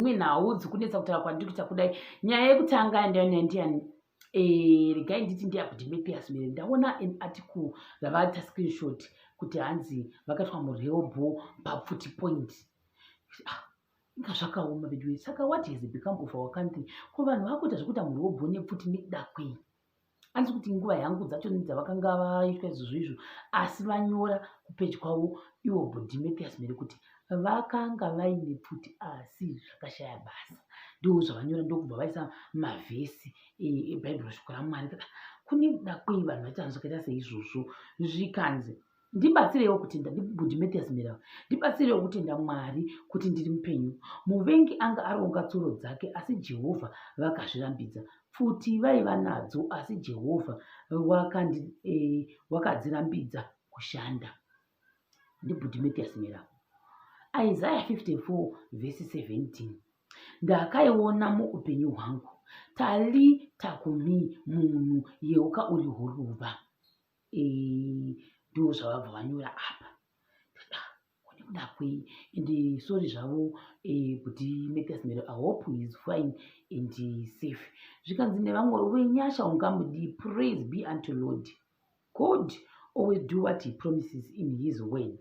dzimwe nhau dzikunetsa kutaura kwandiri kuita kudai nyaya yekutanga yandiani yandiani eh, regai nditi ndeyakudimepiyas mere ndaona an article vavaita screenshot kuti hanzi vakaitwa mureobho papfuti point ah, inga zvakaoma veduwe saka what has become of our country ko vanhu vakuita zvekuita mureobho nepfuti nekuda kwei andisi kuti nguva yangu dzacho nedzavakanga vaitwa izvozvo izvo asi vanyora kupeji kwavo ivo bodimepias mere kuti vakanga vaine pfuti asi zvakashaya basa ndo zvavanyora ndokubva vaisa mavhesi ebhaibheri e, shoko ramwari kune dakwei vanhu vaita zvakaita seizvozvo zvikanzi ndibatsireiwo kutenda ndibudi mathias mirava ndibatsireiwo kutenda mwari kuti ndiri mupenyu muvengi anga aronga tsuro dzake asi jehovha vakazvirambidza pfuti vaiva nadzo asi jehovha eh, wakadzirambidza e, kushanda ndibudi mathias mirava isaya 54 vhesi 17 ndakaiona muupenyu hwangu tali takumi munhu yeuka uri huruva ndiwo zvavabva vanyora apa ndakwei and sorry zvavo kuti eh, mathias mero i hope heis fine and safe zvikanzi nevamwe wenyasha ungamudi praise be unto lord god always do what he promises in his word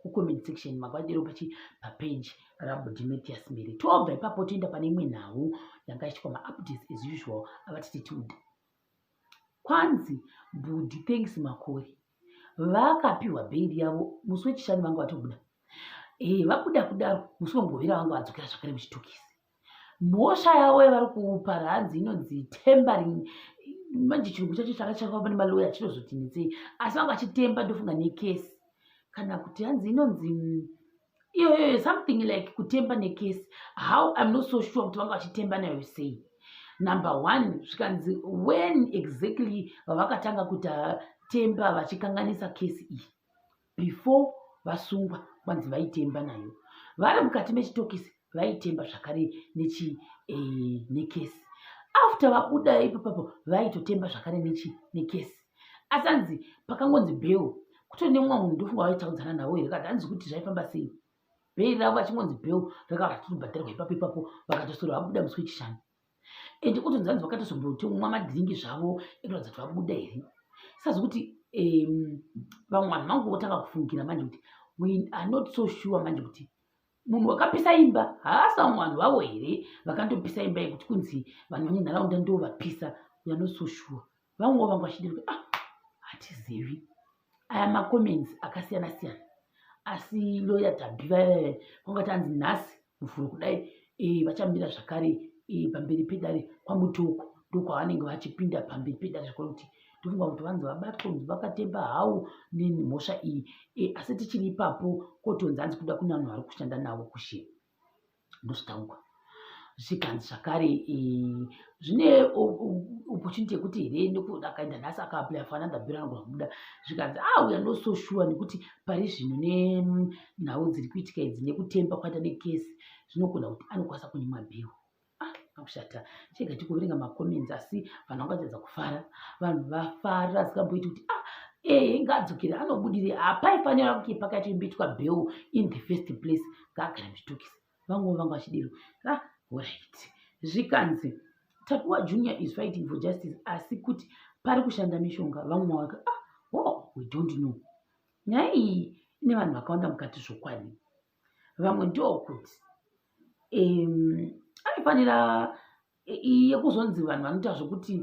kucomment section makwadiro pachi papage rabudimatias miri tobva ipapo toenda pane imwe nhau yanga ichiitwa maupdates as usual avatititude kwanzi budi thanks makore vakapiwa bhairi yavo musi wechishanu vanga vatobuda e, vabuda kudaro musi wemugovera vanga vadzokera zvakare muchitokisi mhosva yavo yavari kupa hanzi inonzi tembering manje chirungu chacho changa chakava pane maloya chinozotinetsei asi vanga vachitemba ndofunga nekesi kana kuti hanzi inonzi iyoyo something like kutemba nekesi how im not so sure kuti vanga vachitemba nayo sei number one zvikanzi when exactly vavakatanga kuti temba vachikanganisa kesi iyi before vasungwa kwanzi vaitemba nayo vari mukati mechitokisi vaitemba zvakare nechi eh, nekesi after vabuda ipapapo vaitotemba zvakare nechi nekesi asi anzi pakangonzi bheu kutone mumwe munhu ndofunga vaitaudzana navo here kati hanzi kuti zvaifamba sei bhei ravo vachingonzi bheu rakava ratotobhadharwa ipapo ipapo vakatosoro vabuda musi wechishanu and kuti nzanzi vakatozomboti umwa madhiringi zvavo ekuratidza kuti vabuda here sazi kuti vamwe vanhu vangu votanga kufungira manje kuti we are not so sure manje kuti munhu wakapisa imba haasi vamwe vanhu vavo here vakandopisa imba yekuti kunzi vanhu vemunharaunda ndo vapisa we are not so sure vamwe vanga vachida kuti ah hatizivi aya macomments akasiyana siyana asi loya tabhi vayavaya vanga tanzi nhasi muvhuro kudai eh, vachamira zvakare eh, pamberi pedare kwamutoko ndokwavanenge vachipinda pamberi pedare zvakare kuti ndofunga kuti vanzi vabatwa kunzi vakatemba hawo nemhosva iyi e, asi tichiri ipapo kotonzi hanzi kuda kune vanhu vari kushanda navo kushe ndozvitaurwa zvikanzi zvakare eh, zvine opportunity yekuti here nekuti akaenda nhasi akaaplya fana ndabhira anogona kubuda zvikanzi a ah, uya no so sure nekuti pari zvino nenhau dziri kuitika idzi nekutemba kwaita nekesi zvinogona kuti anokwanisa kunyimwa bhero Ah, akushata chega tikuverenga macomments asi vanhu vangadzadza kufara vanhu vafara asingamboiti kuti ah ee eh, ngaadzokere anobudire hapaifanira kuti pakatimbitwa beu in the first place ngaagara muzvitokisi vanguva vanga vachidero ah orit zvikanzi tapiwa junior is fighting for justice asi kuti pari kushanda mishonga vamwe mawaka ah oh we don't know nyaya iyi ine vanhu vakawanda mukati zvokwadi vamwe ndokuti um, aifanira iye kuzonzi vanhu vanoita zvekuti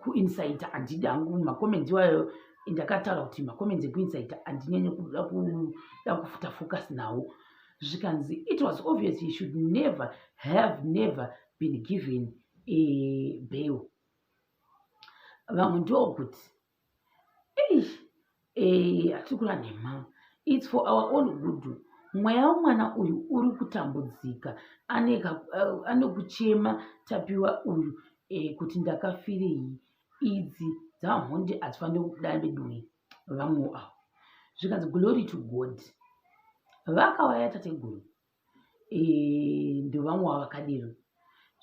kuinsaita handidi hangu makomendi iwayo ndakataura kuti makomendi ekuinsaita handinyenye kuda kuda kufuta focus nawo zvikanzi it was obvious he should never have never been given a bail vamwe ndokuti eish eh hatiri kula nemama its for our own good mweya wemwana uyu uri kutambudzika anekuchema eh, tapiwa uyu eh, kuti ndakafirei idzi dzamhondi hadzifanire kubuda veduwe vamwe avo zvikanzi glory to god vakauya tateguru eh, ndovamwe wavakadero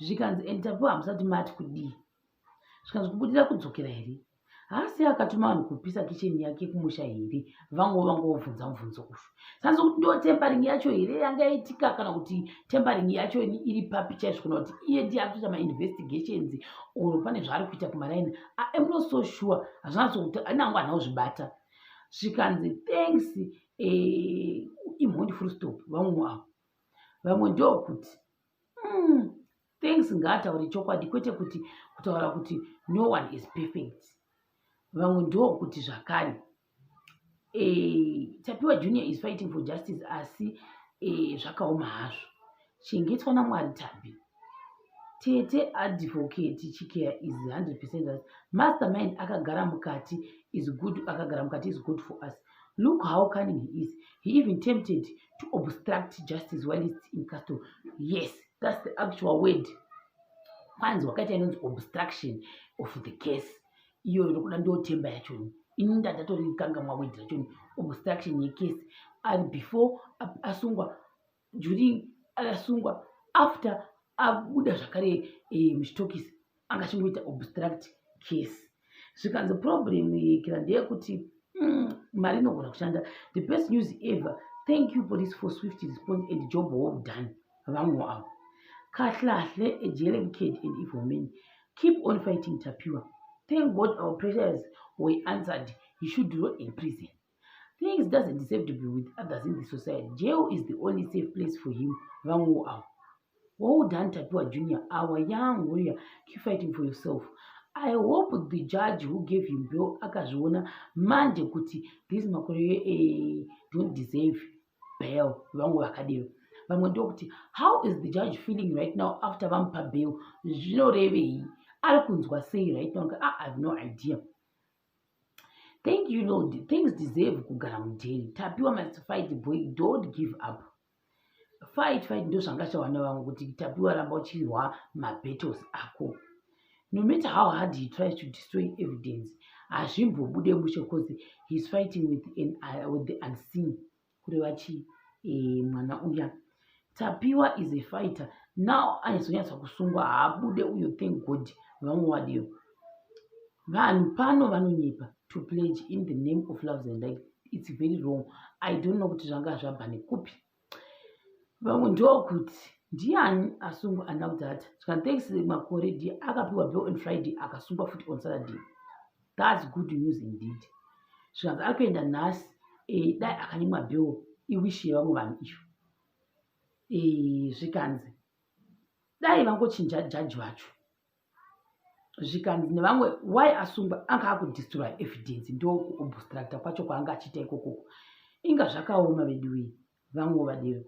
zvikanzi and tapiwa hamusati mati kudii zvikanzi kubudira kudzokera here haasi akatuma vanhu kupisa kicheni yake kumusha here vango vango vobvunza mubvunzo ufu sanzi kuti ndo tempering yacho here yanga yaitika kana kuti tempering yacho iri papi chaizvo kana kuti iye ndiye akutoita mainvestigations or pane zvaari kuita kumaraini am not so sure hazvinatsokuti anango hana kuzvibata zvikanzi thanks eh, imhondi full stop vamwe avo vamwe ndokuti hmm, thanks ngaataure chokwadi kwete kuti kutaura kuti no one is perfect vamwe ndokuti zvakare eh, tapiwa junior is fighting for justice asi eh, zvakaoma hazvo chengetwa namwari tabi tete advocate chikeya is 100 percent us master mind akagara mukati is good akagara mukati is good for us look how cunning he is he even tempted to obstruct justice while is in castle yes that's the actual word kwanzi wakaita inonzi obstruction of the case iyoyo ndokuda ndotemba yachoni ini ndandatorikangamwa word rachoni obstruction yecase ari before asungwa juling akasungwa after abuda zvakare eh, muchitokisi anga achingoita obstruct case zvikanzi problem yekira ndeyekuti mm, mari inogona kushanda the best news ever thank you police for swift response and job well done vamwe avo kahlahle ejelebked and evil men keep on fighting tapiwa thank god our pressures were answered he should roll in prison things doesn't deserve to be with others in the society jail is the only safe place for him vamwewo avo well done tapiwa junior our young warrior keep fighting for yourself i hope the judge who gave him bill akazviona manje kuti this makore eh, don't deserve bail vamwe vakadero vamwe ndokuti how is the judge feeling right now after vamupa bail zvinorevei ari kunzwa sei right now ah, i have no idea thank you lord things deserve kugara mudheni tapiwa must fight boy don't give up fight fight ndo zvanga chawana vamwe kuti tapiwa ramba uchirwa mabattles ako no matter how hard he tries to destroy evidence hazvimbobude mushe cause heis fighting with, an, uh, with the unseen kureva chii eh, mwana uya tapiwa is a fighter now aizonyatsa kusungwa haabude uyo thank god vamwe wadiyo vanhu pano vanonyepa to pledge in the name of loves and life its very wrong i don't know kuti zvanga zvabva nekupi vamwe ndokuti ndiani asungwa andakudhata zvikantekisi makore d akapiwa bill on friday akasungwa futi on saturday thats good news indeed zvikanzi ari kuenda nhasi eh, dai akanyimwa bill iwishi yevamwe vanhu iyo eh, zvikanzi dai vangochinja jaji vacho zvikanzi nevamwe why asungwa anga akudistroya evidence ndo kuobstructa kwacho kwaanga achiita ikokoko inga zvakaoma veduwei vamwe vadero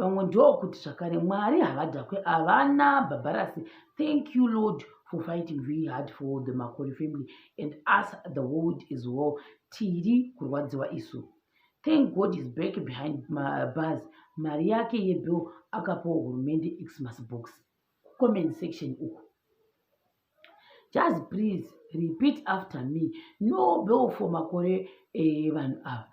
vamwe ndokuti zvakare mwari havadhakwe havana bhabharasi thank you lord for fighting very hard for the makore family and us the world as well tiri kurwadziwa isu thank god is back behind bars mari yake yebill akapawo hurumende xmas box comment section uku just please repeat after me no bill for makore eh, vanhu eh, ava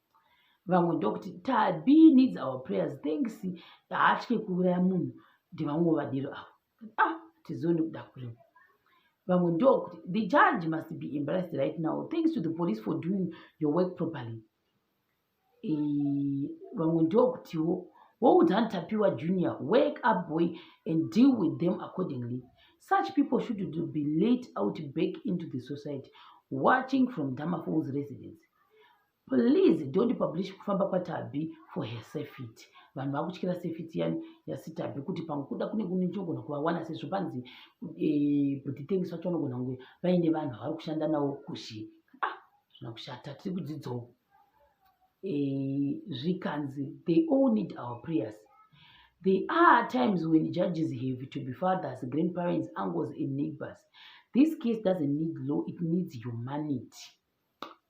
vamwe ndokuti tabi needs our prayers thanks haatye kuuraya munhu ndivamwe vadiro avo ah tizione kuda kurima vamwe ndokuti the judge must be embarrassed right now thanks to the police for doing your work properly vamwe ndokutiwo woudhan tapiwa junior work up boy and deal with them accordingly such people should to be late out back into the society watching from damafols residence please don't publish kufamba kwatabhi for her safety vanhu vakutyira safety yani yasitabhi kuti pamwe kuda kune kunechogona kuvawana sezvo panzi eh, buti tengisi vacho vanogona kunge vaine vanhu vavari kushanda navo kuzhi ah, zvina kushata tiri kudzidzawo eh, zvikanzi they all need our prayers there are times when judges have to be fathers grandparents uncles and neighbors this case doesn't need law it needs humanity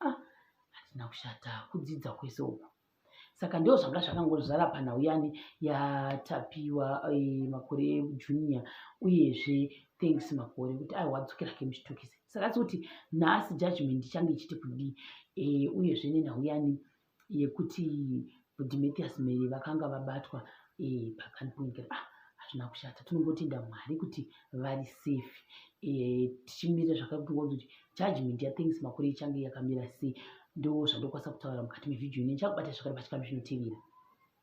ah, hatina kushata kudzidza kwese uku saka ndoo zvanga zvakangozvara panhau yani yatapiwa eh, makore ejunior uyezve thanks makore kuti aiwa dzokera ke muchitokisi saka asi kuti nhasi judgment ichange ichiti kudii eh, uyezve nenhau yani yekuti Demetrius Mary vakanga vabatwa eh, pakaniponyekera ah, hazvina kushata tinongotenda mwari kuti vari safe eh, tichimirira zvakakutonga kuti judgment yathanks makore ichange yakamira sei ndo zvandokwanisa kutaura mukati mevhidhiyo ine ndichakubata zvakare pachikamu zvinotevera